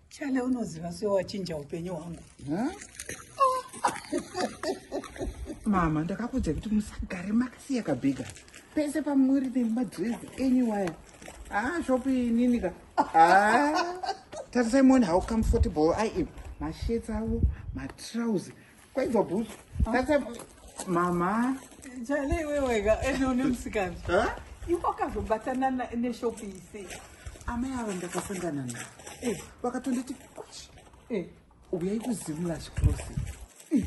Chale unoziva sio wachinja upenyu hwangu. Mama ndakakuudza kuti musagare makasiya kabhiga. Pese pamuri nemadress enyu waya. Ah shopi nini ka. Ah. Tarisai muone how comfortable I am. Mashirts avo, matrouse, Kwaidzo bhutsu. Tatsa bhutsu. Mama. Jale iwe wega ende une musikana. Huh? Iwe wakazobatana neshop ise. Amai ava ndakasangana navo. Eh, vakatonditi kwashi. Eh, uyai kuzimula chikrosi. Eh.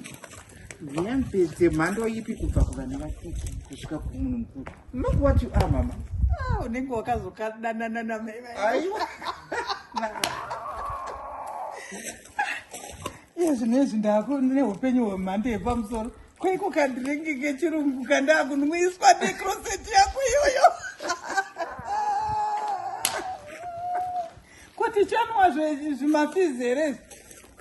Hembe dzemhando ipi kubva kuvana vadiki kusvika kumunhu mukuru. Look what you are mama. Ah, unenge wakazokadanana namai. Aiwa. iye zvinezvi ndaakune upenyu hwemhando yepamusoro kweiko kadhiringi kechirungu kandaakunwiswa necroseti yako iyoyo kuti chanwa zvimafizi here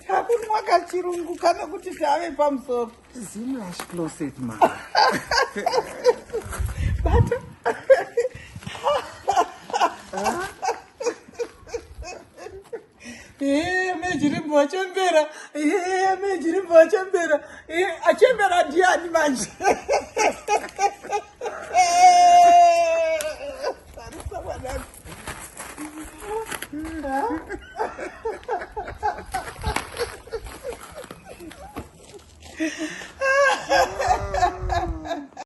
takunwa kachirungu kane kuti tave pamusoro zimlash closet ma bata Ehe, mejirimbo achembera. Ehe, mejirimbo achembera. Ehe, achembera ndiani manje? Tarisa mwanangu. Ah.